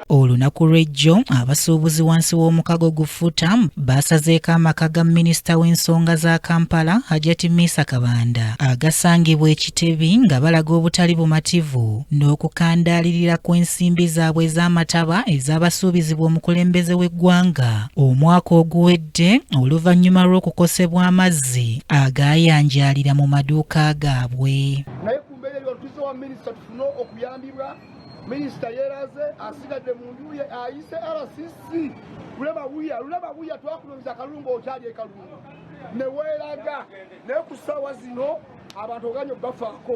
olunaku lw'ejjo abasuubuzi wansi w'omukago gu futam baasazeeko amaka ga minisita w'ensonga za kampala hajati misa kabanda agasangibwa ekitebi nga balaga obutali bumativu n'okukandaalirira kw'ensimbi zaabwe ez'amataba ez'abasuubizibwa omukulembeze w'eggwanga omwaka oguwedde Ate oluvannyuma lw'okukosebwa amazzi agaayanjaalira mu maduuka gaabwe naye ku mbeera eyo olutuze wa minisita tufune okuyambibwa minisita yeeraze asigadde mu nju ye ayise rcc lulema buya lulema buya twakulumza akalungu okyali ekalungu ne weeraga naye ku ssaawa zino abantu oganye bafaako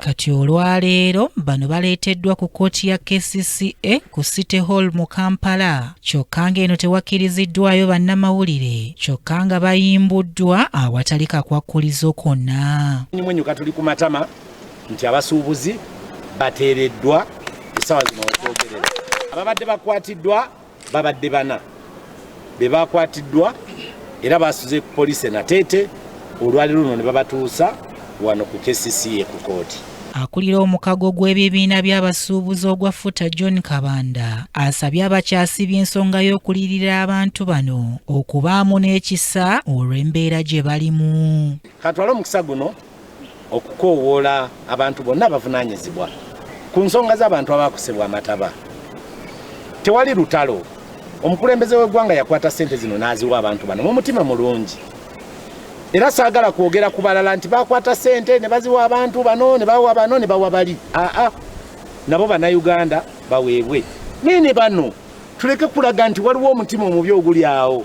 Kati olwaleero bano baleeteddwa ku kkooti ya KCCA ku City Hall mu Kampala kyokka ng'eno tewakkiriziddwayo bannamawulire kyokka nga bayimbuddwa awatali kakwakkulizo konna. Mwenyuka tuli ku matama nti abasuubuzi bateereddwa essaawa zino okwogerera ababadde bakwatiddwa Babadde bana be baakwatiddwa era baasuze ku poliisi e Nateete olwali luno ne babatuusa wano ku KCCA ku kkooti. Akulira omukago gw'ebibiina by'abasuubuzi ogwa FUTA John Kabanda asabye abakyasibye ensonga y'okulirira abantu bano okubaamu n'ekisa olw'embeera gye balimu. Katwale omukisa guno okukoowoola abantu bonna abavunaanyizibwa ku nsonga z'abantu abaakosebwa amataba tewali lutalo omukulembeze w'eggwanga yakwata ssente zino n'aziwa abantu bano mu mutima mulungi era saagala kwogera ku balala nti bakwata ssente ne baziwa abantu bano ne bawa bano ne bawa bali aa nabo bannayuganda baweebwe naye ne bano tuleke kulaga nti waliwo omutima omubi oguli awo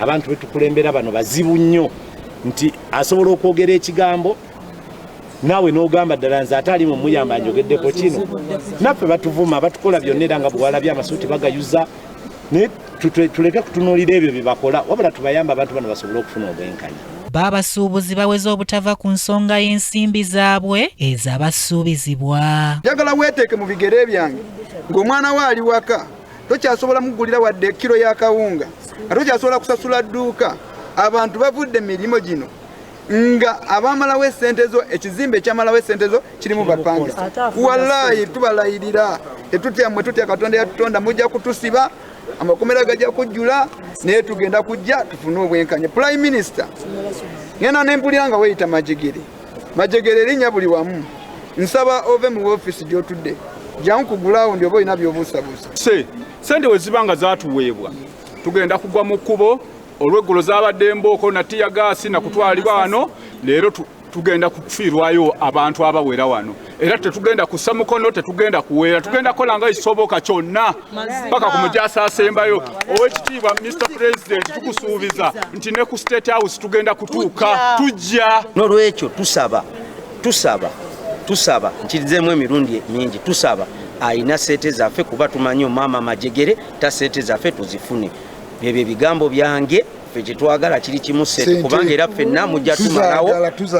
abantu betukulembera bano bazibu nnyo nti asobola okwogera ekigambo naawe n'ogamba ddala nze ate alimu muyamba njogeddeko kino naffe batuvuma batukola byonna era nga bwewalabye amasuuti bagayuza naye tuleke kutunuulira ebyo bye bakola wabula tubayamba abantu bano basobole okufuna obwenkanya baabasuubuzi baweze obutava ku nsonga y'ensimbi zaabwe ezabasuubizibwa njagala weeteeke mu bigere byange ng'omwana we ali waka tokyasobola mugulira wadde kilo ya kawunga nga tokyasobola kusasula dduuka abantu bavudde mirimu gino nga abamalawo esente zo ekizimbe ekyamalawo esente zo kirimu bapange walayi tubalayirira tetutya mwe tutya katonda yatutonda mujja kutusiba amakomera gajja kujjula naye tugenda kujja tufune obwenkanya prime minister ngenda nempulira nga weyita majigiri Majegere erinnya buli wamu. Nsaba ove mu ofiisi gy'otudde. Jangu ku gulawundi oba olina by'obuusabuusa. Se, sente we ziba nga zaatuweebwa tugenda kugwa mu kkubo olweggulo zaabadde embooko na ttiya gaasi na kutwalibwa wano leero tugenda kufiirwayo abantu abawera wano. era tetugenda kussa mukono tetugenda kuweera tugenda kola nga kisoboka kyonna paka ku mujaasi asembayo owekitiibwa mr president tukusuubiza nti ne ku state house tugenda kutuuka tujja nolwekyo tusaba tusaba tusaba nkirizemu emirundi mingi tusaba ayina sente zaffe kuba tumanyi omwama amajegere ta sente zaffe tuzifune byebyo ebigambo byange ffe kyetwagala kiri kimu sente kubanga era ffenna mujja tumalawo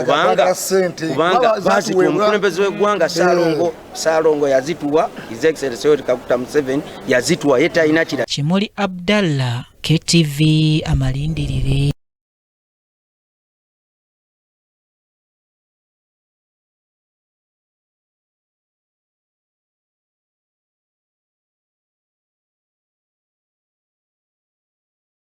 kubanga kubanga bazituwa omukulembeze w'eggwanga eh. saalongo saalongo yazituwa his excellency yoweri kaguta museveni yazituwa ye talina kira kimuli abdallah ktv amalindirire